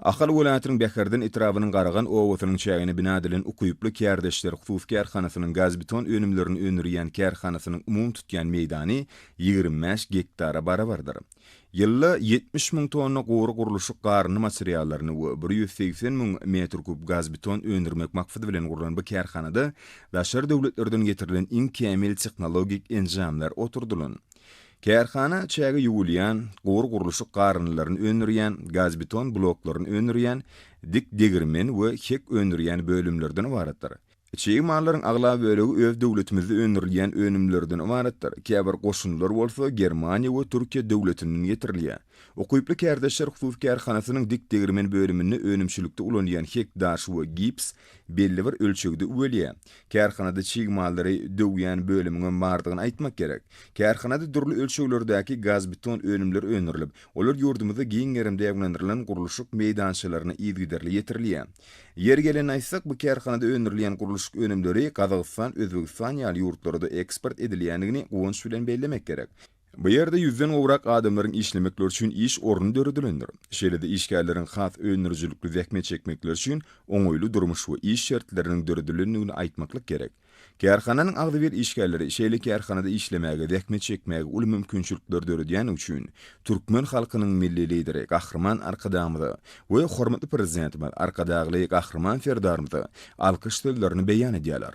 Ahal welaýatynyň Bäherden etrabynyň Garagan obasynyň çägine bina edilen Ukyply kärdeşler hususy kärhanasynyň gazbeton önümlerini öndürýän kärhanasynyň umumy tutýan meýdany ýigrimi bäş gektara barabardyr. Ýylda ýetmiş müň tonna gury gurluşyk garyndy materiallaryny we bir ýüz segsen müň metr kub gazbeton öndürmek maksady bilen gurlan bu kärhanada daşary döwletlerden getirilen iň kämil tehnologik enjamlar oturdylan Kärhana çäge ýuwulýan, gury gurluşyk garyndylaryny öndürýän, gazbeton bloklaryny öndürýän, dik degirmen we hek öndürýän bölümlerden ybaratdyr. Çig mallaryň aglaba bölegi öz döwletimizde öndürilýän önümlerden ybaratdyr, käbir goşundylar bolsa Germaniýa we Türkiýe döwletinden getirilýär. Ukyply kärdeşler hususy kärhanasynyň dik degirmen bölüminde önümçilikde ulanylýan hek daş we gips belli bir ölçegde üwelýär. Kärhanada çig mallary döwýän bölümiňem bardygyny aýtmak gerek. Kärhanada dürli ölçeglerdäki gazbeton önümler öndürilip, olar ýurdumyzda giň gerimde aýwanlandyrylan gurluşyk meýdançalaryna yzygiderli ýetirilýär. Ýeri gelende aýtsak, bu kärhanada öndürilýän gurluşyk önümleri Gazagystan, Özbegistan ýaly ýurtlara-da eksport edilýändigini guwanç bilen bellemek gerek. Bu ýerde ýüzden gowrak adamlaryň işlemekleri üçin iş orny döredilendir. Şeýle-de işgärleriň has öndürijilikli zähmet çekmekleri üçin oňaýly durmuş we iş şertleriniň döredilendigini aýtmaklyk gerek. Kärhananyň agzybir işgärleri şeýle kärhanada işlemäge, zähmet çekmäge uly mümkinçilikleri döredýändigi üçin türkmen halkynyň Milli Lideri Gahryman Arkadagymyza we hormatly Prezidentimiz Arkadagly Gahryman Serdarymyza alkyş sözlerini beýan edýärler.